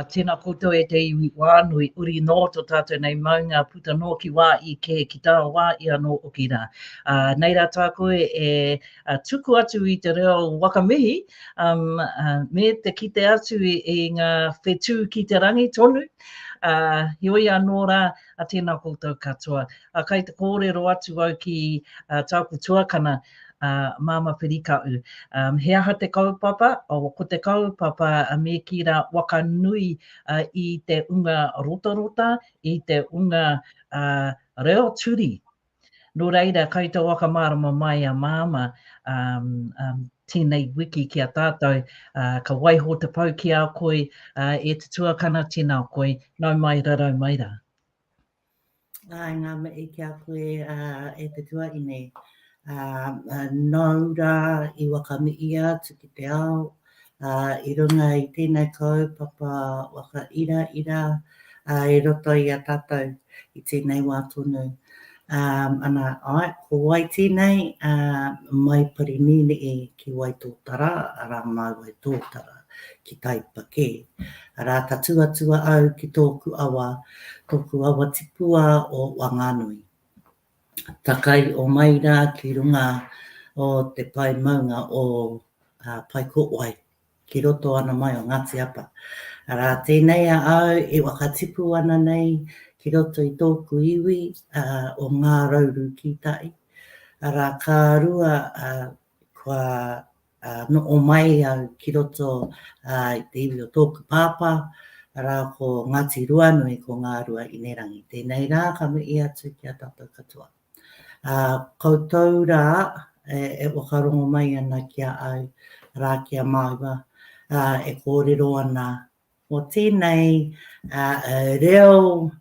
Tēnā koutou e te iwi wānui, uri nō to tātou nei maunga, puta nō ki wā i kē, ki tā wā i anō oki rā. Nei rā tāku e tuku atu i te reo wakamihi me te kite atu i ngā whetū ki te rangi tonu. Heoi anō rā, tēnā koutou katoa. Kai te kōrero atu au ki tāku tuakana, Māmā Whirikaʻu, he aha te kaupapa? Ko te kaupapa me kī rā waka nui i te unga rotarota, i te unga reo turi. Nō reira, kai te whakamārama mai a Māmā tēnei wiki ki a tātou, ka waiho te pou ki a koe, e te tuakana, tēnā koe, nau mai, rarau mai rā. Ai ngā mihi ki a koe e te tuakine, nau rā i whakamihia atu ki te ao, ā, i runga i tēnei kaupapa waka iraira, ā, i roto i a tātou i tēnei wā tonu. Ā, ana, āe, ko wai tēnei, ā, mai Parinīnii ki Waitōtara, arā, māu Waitōtara, ki Taipa kē. Arā, ka tuatua au ki tōku awa, tōku awa tipua o Whanganui. Takai o mai rā ki runga o te pae maunga o Paikōwai, ki roto ana mai o Ngāti Apa. Arā tēnei a au e whakatipu ana nei ki roto i tōku iwi o Ngā Rauru Kītai, arā, ka rua kua Noho mai au ki roto i te iwi o tōku pāpā, arā ko Ngāti Ruanui, ko Ngārua Inerangi. Tēnei rā ka mihi atu ki a tātou katoa. Koutou rā e whakarongo mai ana ki a au, arā ki a māua e kōrero ana Mō tēnei reo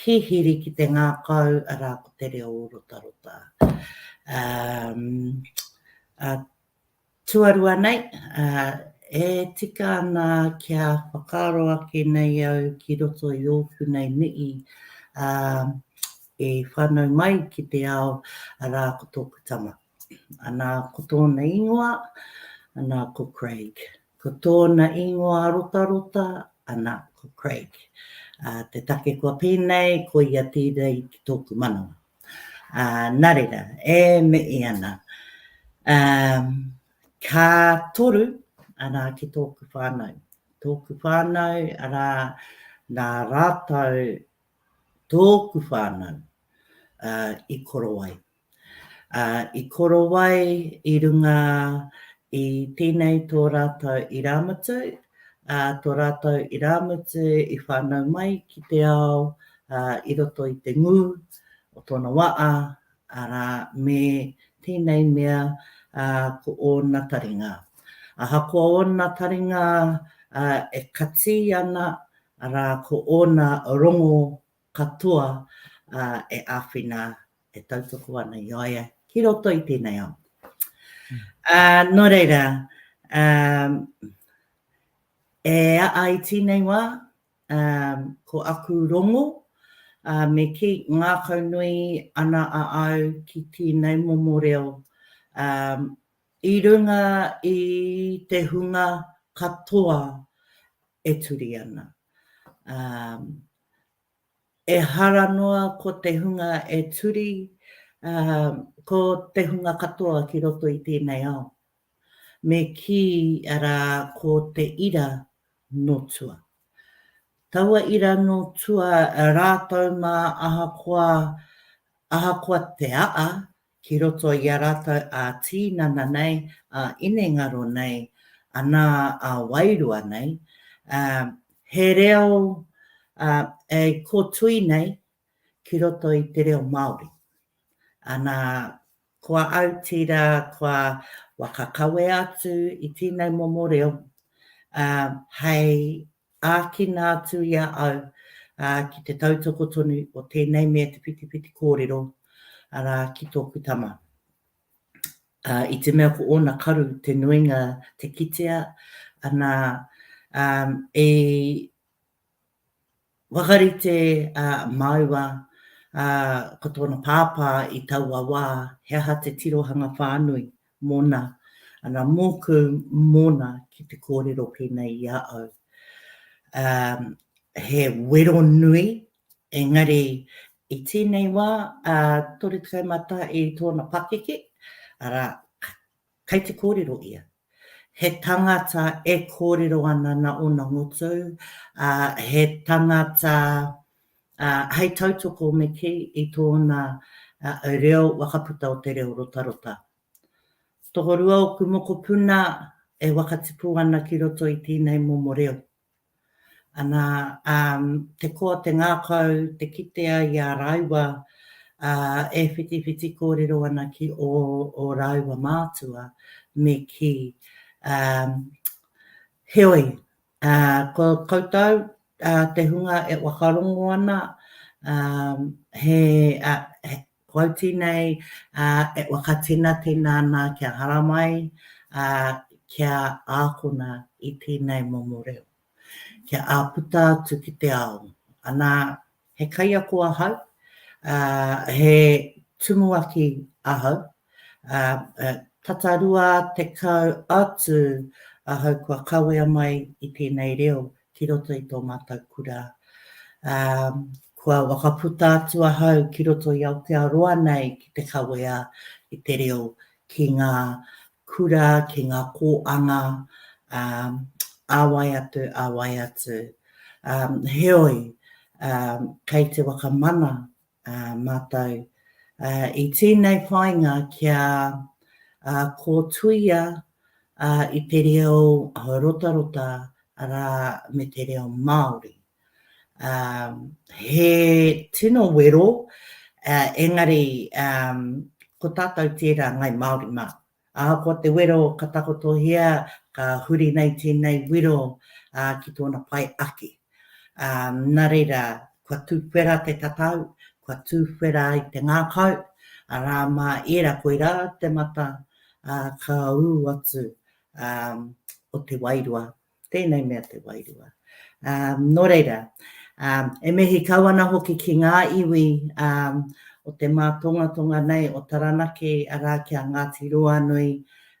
hihiri ki te ngākau, arā, ko te reo rotarota. Tuarua nei, e tika ana kia whakaaro ake nei au ki roto i ōku nei mihi e whānau mai ki te ao, arā, ko tōku tama. Ana, ko tōna ingoa, ana, ko Craig. Ko tōna ingoa rotarota, ana, ko Craig. Ā, te take kua pēnei, ko ia tērei ki tōku manawa. Ā, nā reira, e mihi ana. Ā, ka toru, arā, ki tōku whānau. Tōku whānau, arā, nā rātou, tōku whānau, ā, i koro ai. Ā, i korowai i runga i tēnei tō rātou irāmutu, ā, tō rātou irāmutu i whānau mai ki te ao, ā, i roto i te ngū o tōna waʻa, arā, me tēnei mea, ā, ko ōna taringa. Ahakoa ōna taringa, ā, e kati ana, arā, ko ōna rongo katoa e āwhina, e tautoko ana i a ia ki roto i tēnei ao. Nō reira, e aha i tēnei wā, ko aku rongo, me kī, ngākau nui ana a au ki tēnei momo reo, i runga i te hunga katoa e turi ana. Ehara noa ko te hunga e turi, ā, ko te hunga katoa ki roto i tēnei ao. Me kī, arā, ko te ira nō tua. Taua ira nō tua rātou mā ahakoa, ahakoa te aa, ki roto i a rātou ā-tīnana nei, ā-inengaro nei, anā, ā-wairua nei, ā, he reo, ā, e kotui nei ki roto i te reo Māori. Anā, kua autira, kua whakakawe atu i tēnei momo reo, ā, hei Ākina atu i a au ki te tautoko tonu o tēnei mea te whitiwhiti kōrero, arā, ki tōku tama. I te mea ko ōna karu te nuinga te kitea, anā, i whakarite a māua ko tōna pāpā i taua wā he aha te tirohanga whānui Mona, Ana mōku mona ki te kōrero pēnei i a au. Umm, he wero nui, engari i tēnei wā, ā, 31 i tōna pakeke, arā, kei te kōrero ia. He tangata e kōrero ana nā ōna ngutu, ā, he tangata Hei tautoko me kī i tōna reo wakaputa o te reo rotarota. Tokorua ōku mokopuna e wakatipu ana ki roto i tēnei momo reo. Ana, te koa, te ngākau, te kitea i a rāua e whitiwhiti kōrero ana ki ō rāua mātua me kī. Heoi, Ā, ko koutou, ā, te hunga e whakarongo ana, ā, he, ā, he, ko au tēnei, ā, e whakatenatena ana kia haramai, ā, kia ākona i tēnei momo reo, kia āputa atu ki te ao, anā, He kaiako ahau, ā, he tumuaki ahau. Ā, tata rua tekau atu ahau kua kawea mai i tēnei reo ki roto i tō mātou kura. Ā, kua whakaputa atu ahau ki roto i Aotearoa nei ki te kawea i te reo ki ngā kura, ki ngā kōanga, ā wai atu, ā wai atu. Heoi, kei te whakamana mātou i tēnei whāinga kia kōtuia i te reo Rotarota rā me te reo Māori. Um, he tino wero, uh, engari um, ko tātou tērā ngai Māori mā. Ahakoa te wero ka takotohia, ka huri nei tēnei wero uh, ki tōna pai ake. Um, nā reira, kua tūwhera te tatau, kua tūwhera i te ngākau, arā mā ērā koirā te mata uh, ka ū atu um, o te wairua Tēnei mea te wairua. Um, nō reira, um, e mihi kau ana hoki ki ngā iwi um, o te mātongatonga nei o Taranaki, arā ki a Ngāti Roanui,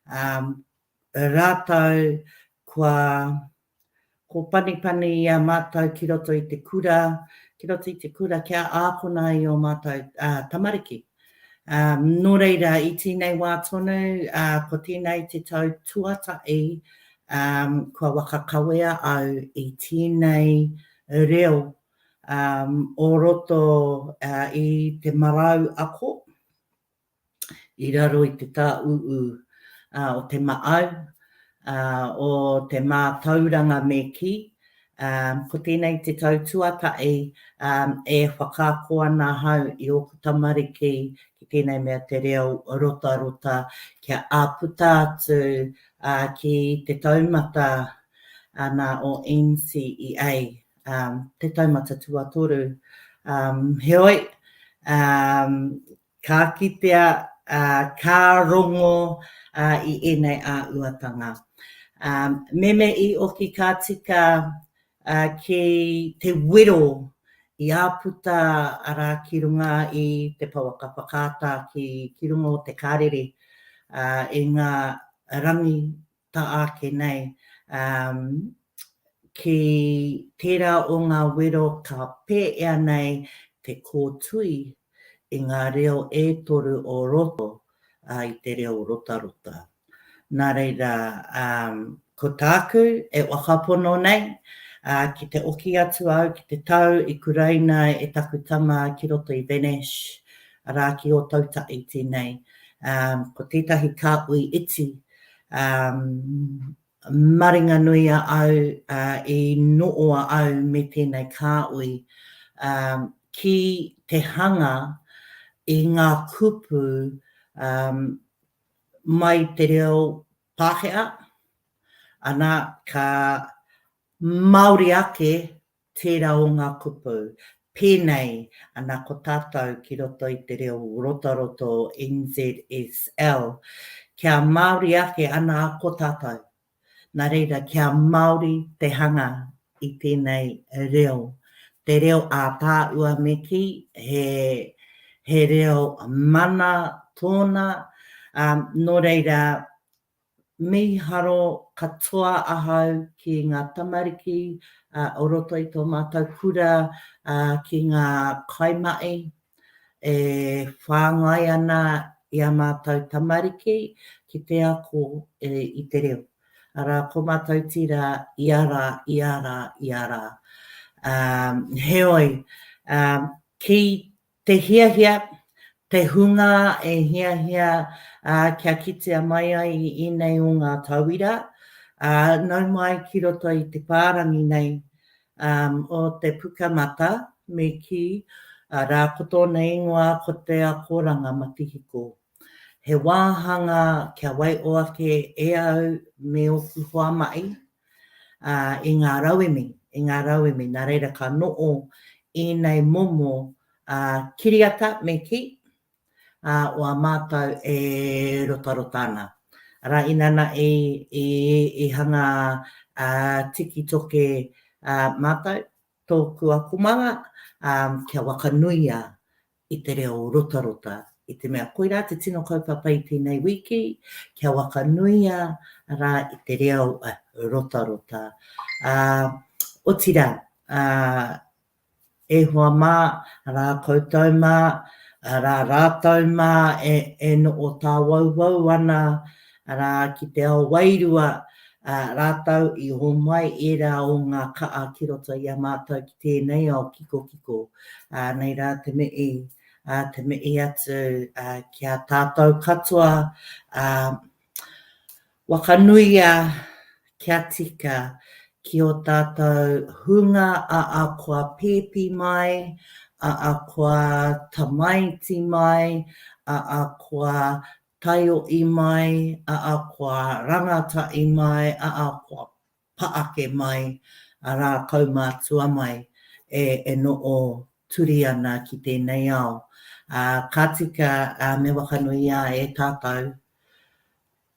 um, rātou kua ko panipani i a mātou ki roto i te kura, ki roto i te kura kia ākona i o mātou uh, tamariki. Nō reira, i tēnei wā tonu, ko tēnei te tau tuatahi kua waka kawea au i tēnei reo o roto i te marau ako i raro i te tāūū o te maʻau, o te mātauranga me kī, ko tēnei te tau tuatahi e whakaako ana ahau i ōku tamariki ki tēnei mea te reo rotarota kia āputa atu ki te taumata ana o NCEA, te taumata tuatoru. Heoi, Ka kitea, ā, ka rongo, ā, i ēnei āhuatanga. Ā, meme i oki ka tika, ā, ki te wero i āputa, arā, ki runga i te pouaka whakaata ki, ki runga o te Karere, ā, i ngā rangi tā ake nei, ā, ki tērā o ngā wero ka pēea nei te kōtui i ngā reo e toru o roto, ā, i te reo rotarota. Nā reira, ā, ko tāku e whakapono nei, ā, ki te oki atu au ki te tau i kuraina e taku tama ki roto i Venice, arā, ki Ōtautaiti nei, ā, ko tētahi kāhui iti, Maringanui a au i nooa au me tēnei kāui ki te hanga i ngā kupu mai te reo Pākehā, ana ka Māori ake tērā o ngā kupu. Pēnei ana ko tātou ki roto i te reo rotaroto o NZSL, kia Māori ake ana ko tātou. Nā reira, kia Māori te hanga i tēnei reo. Te reo ātaahua me kī, he reo mana tōna, nō reira, Mīharo katoa ahau ki ngā tamariki o roto i tō mātou kura, ki ngā kaimahi e whāngai ana i ā mātou tamariki ki te ako i te reo. Arā, ko mātou tira ia rā, ia rā, ia rā. Heoi, ki Te hiahia, te hunga e hiahia kia kitea mai ai i ēnei o ngā tauira, nau mai ki roto i te whārangi nei o te Pukamata, me kī, rākoto nei ingoa ko te akoranga matihiko. He wāhanga kia waiho ake e au me ōku hoa mahi i ngā rauemi, i ngā rauemi. Nā reira ka noho ēnei momo kiriata me kī, o a mātou e rotarota ana. Arā, inana i hanga tiki toke mātou, tōku akomanga kia whakanuia i te reo rotarota, i te mea koirā te tino kaupapa i tēnei wiki, kia whakanuia rā i te reo rotarota. Ā, otirā, ā, e hoa mā, rā koutou mā, rā rātou mā e, e noʻo tāwauwau ana, Arā, ki te ao wairua, ā, rātou i homai ērā o ngā ka'a ki roto i a mātou ki tēnei ao kikokiko, ā, nei rā te mi'i, ā, te mi'i atu, ā, ki a tātou katoa, ā, whakanuia kia tika ki ō tātou hunga a akoa pēpi mai, a akoa tamaiti mai, a akoa Taio i mai a a koa rangata i mai a a koa paake mai a ra kaumatua mai e e noo turi ana ki tenei ao a ka tika a me whakanuia e tatou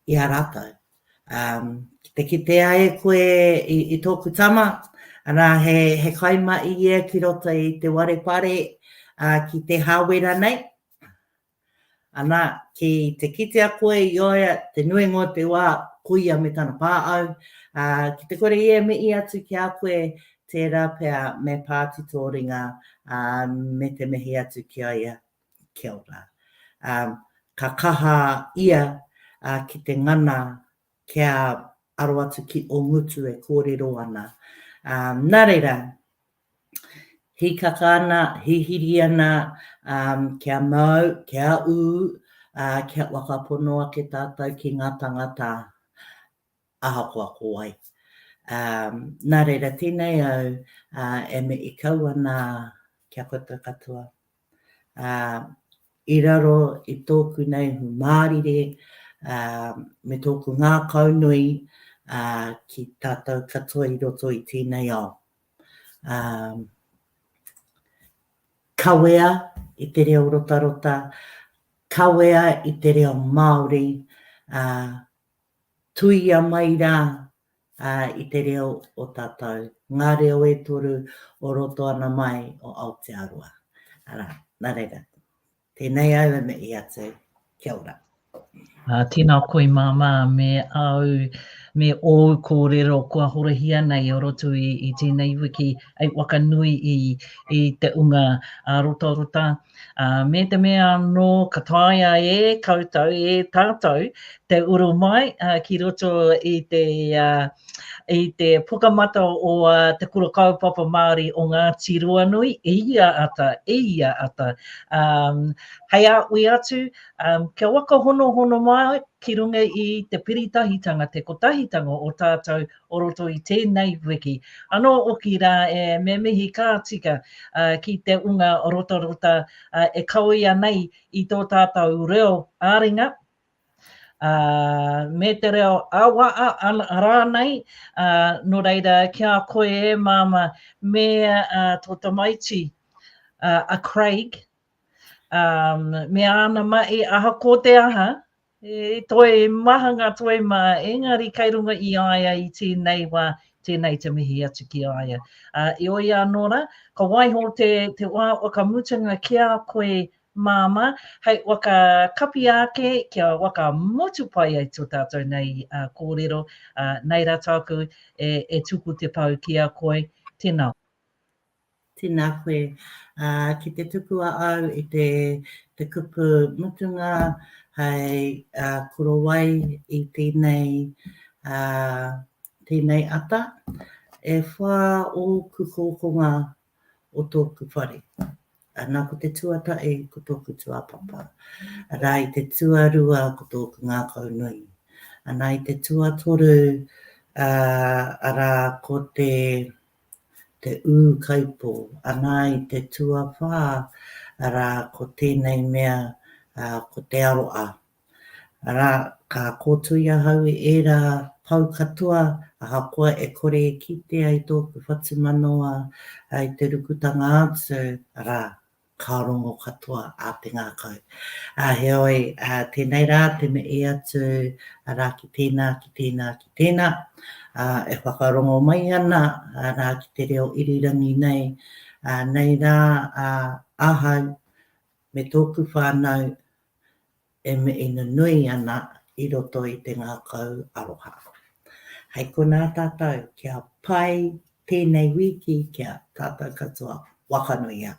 i a ratou a ki te kitea e koe i toku tama ra he he kai mai ia ki roto i te warepare a ki te hawera nei. Ana, ki te kitea koe i a ia te nuinga o te wā, ko ia me tana pā au, ā, ki te kore ia e mihi atu ki a koe, tērā pea me pā tito ringa, ā, me te mihi atu ki a ia. Kia ora. Ā, ka kaha ia, ā, ki te ngana kia aro atu ki ō ngutu e kōrero ana. Ā, nā reira, hīkaka ana, hihiri ana, kia mau, kia ū, ā, kia whakapono ake tātou ki ngā tāngata ahakoa ko wai. Nā reira, tēnei au e mihi kau ana ki a koutou katoa. I raro i tōku nei hu mārire me tōku ngākaunui ki tātou katoa i roto i tēnei ao. kawea i te reo rotarota, kawea i te reo Māori, tuia mai rā i te reo o tātou, ngā reo e toru o roto ana mai o Aotearoa. Arā, nā reira. Tenei au e mei atu. Kia ora. Tēnā koe māmā me āu, me ōu kōrero kua horahia nei o roto i tēnei wiki hei whakanui i te unga rotarota. Me te mea anō ka taea e koutou, e tātou te uru mai ki roto i te i te Pukamata o Te Kura Kaupapa Māori o Ngāti Ruanui, e ia ata, e ia ata, hei a ui atu, kia waka hono hono mai ki runga i te piritahitanga, te kotahitanga o tātou o roto i tēnei wiki. Anō oki rā e, me mihi ka tika ki te unga rotarota e kawea nei i tō tātou reo ā-ringa, ā, me te reo ā-waha rānei, ā, nō reira ki a koe e Māmā me tō tamaiti a Craig, ā, me āna mahi aha ko te aha, he toi maha ngā toi mā, engari kei runga i a ia i tēnei wā, tēnei te mihi atu ki a ia. Ā, heoi anō rā, ka waiho te wā o ka mutunga ki a koe Māmā, hei waka kapi āke kia waka motu pai ai to tātou nei kōrero, nei rā tāku e tuku te pau ki a koe, tēnā. Tēnā koe. Ki te tuku a au i te kupu mutunga hei korowai i tēnei, tēnei ata, e whā ōku hōkonga o tōku whare. Ana ko te tuatahi ko tōku tuapapa. Arā i te tuarua ko tōku ngākau nui. Ana i te tuatoru arā ko te te ūkaipō. Ana i te tuawhā arā ko tēnei mea ko te aroha. Arā, ka kōtui ahau i ērā pou katoa ahakoa e kore e kitea i tōku whatumanawa i te rukutanga atu, arā, ka rongo katoa a te ngākau. Ā, heoi, tēnei rā te mihi atu, arā, ki tēnā, ki tēnā, ki tēnā, ā, e whakarongo mai ana, arā, ki te reo irirangi nei, ā, nei rā, ā, ahau, me tōku whānau e mīhina nui ana i roto i te ngākau aroha. Hei konā tātou, kia pai tēnei wīki ki a tātou katoa. Wakanuia.